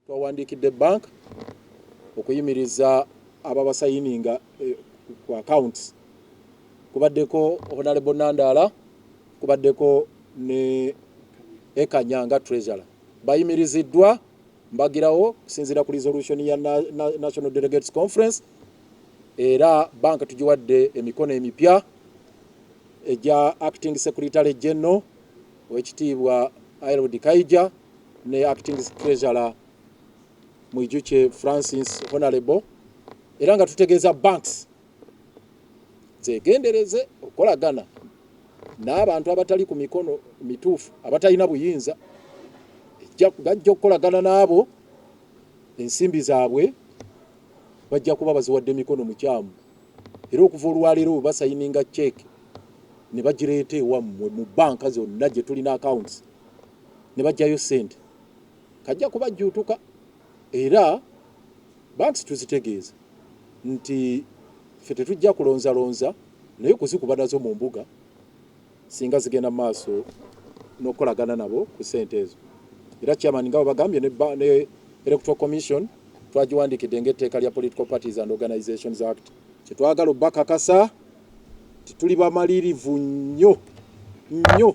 Twawandiikidde bank okuyimiriza ababasayininga ku accounts kubaddeko Honalebo Nandaala, kubaddeko ne Ekanya nga Treasurer bayimiriziddwa mbagirawo okusinziira ku resolution ya National Delegates Conference era bank tugiwadde emikono emipya egya Acting Secretary General owekitiibwa Harold Kaija ne acting treasurer Mwijukye Francis Honorable era nga tutegeeza banks zegendereze okukolagana n'abantu abatali ku mikono mituufu abatalina buyinza gajja okukolagana n'abo ensimbi zaabwe bajja kuba baziwadde mikono mukyamu era okuva olwaleero webasayininga ceeke ne bagireeta ewammwe mu banka zonna gye tulina akawunti ne baggyayo ssente kajja kubajjuutuka era banks tuzitegeeza nti ffe tetujja kulonzalonza naye kuzikuba nazo mu mbuga singa zigenda mu maaso n'okukolagana nabo ku ssente ezo era chairman nga webagambye ne, ne electoral commission twagiwandiikidde ng'etteeka lya political parties and organizations act kyetwagala obakakasa tituli bamalirivu nnyo nnyo